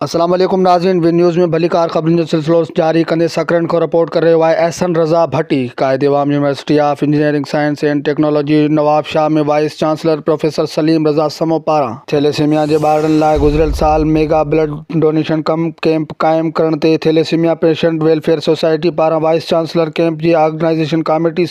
السلام عليڪم ناظرين وي نيوز ۾ ڀليڪار خبرن جو سلسلو جاري ڪندي سڪرنڊ کان رپورٽ ڪري رهيو آهي احسن رضا Bhatti Quaid Awam university of engineering science and technology Nawabshah ۾ vice chancellor professor Salim Raza Samoon پاران ٿيليسيميا جي ٻارڙن لاء گذريل سال ميگا بلڊ ڊونيشن ڪم ڪيمپ قائم ڪرڻ تي ٿيليسيميا پيشنٽ ويلفيئر سوسائٽي پاران وائيس چانسلر ڪيمپ جي آرگنائيزيشن ڪاميٽي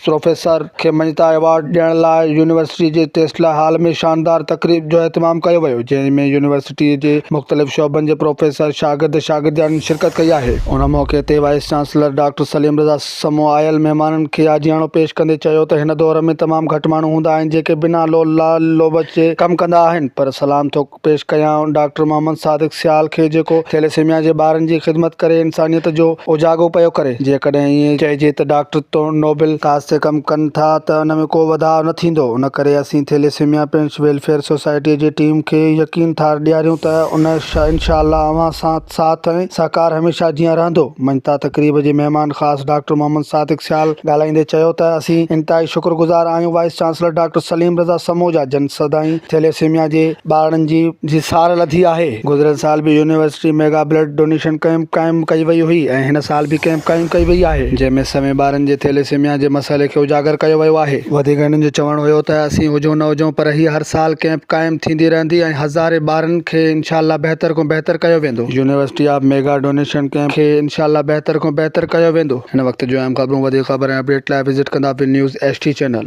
پروفيسر کي مڃتا ايوارڊ ڏيڻ لاء يونيورسٽي جي ٽيسلا هال ۾ شاندار تقريب جو اهتمام ڪيو ويو جنهن ۾ يونيورسٽي جي مختلف شعبن جي پروفيسر شاگرد شاگردياڻين شرڪت ڪئي آهي. ان موقعي تي vice chancellor doctor Salim Raza Samoon آيل مهمانن کي آجياڻو پيش ڪندي چيو ته هن دور ۾ تمام گهٽ ماڻهو هوندا آهن جيڪي بنا لو لال لوبچ جي ڪم ڪندا آهن پر سلام ٿو پيش ڪيائون ڊاڪٽر محمد صادق سيال کي جيڪو ٿيليسيميا جي ٻارن جي خدمت ڪري انسانيت جو اوجاڳو پيو ڪري جيڪڏهن ائين چئجي ته ڊاڪٽر تون نوبل ڪاز تي ڪم ڪن ٿا ته ان ۾ ڪو وڌاء نه ٿيندو ان ڪري اسين ٿيليسيميا پينٽس ويلفيئر سوسائٽي جي ٽيم کي يقين ٿا ڏياريون ته ان انشاء الله اوهان سان ساٿ ۽ سهڪار هميشه جيان رهندو. مڃتا تقريب جي مهمان خاص ڊاڪٽر محمد صادق سيال ڳالهائيندي چيو ته اسين انتهائي شڪرگذار آهيون vice chancellor doctor Salim Raza Samoon جا جن سدائين ٿيليسيميا جي ٻارڙن جي جي سار لڌي آهي. گذريل سال به university mega blood donation camp قائم ڪئي وئي هئي ۽ هن سال به ڪئمپ قائم ڪئي وئي آهي جنهن ۾ سوين ٻارن جي ٿيليسيميا جي مسئلي کي اجاگر ڪيو ويو آهي. وڌيڪ هنن جو چوڻ هيو ته اسين هجون نه هجون پر هي هر سال ڪئمپ قائم ٿيندي رهندي ۽ هزارين ٻارن کي انشاء الله بهتر کان بهتر ڪيو ويندو. University of mega donation camp کي انشاء الله بهتر کان بهتر ڪيو ويندو. هن وقت جون اهم خبرون وڌيڪ خبر ۽ اپڊيٽ لاء وزٽ ڪندا one news H T channel.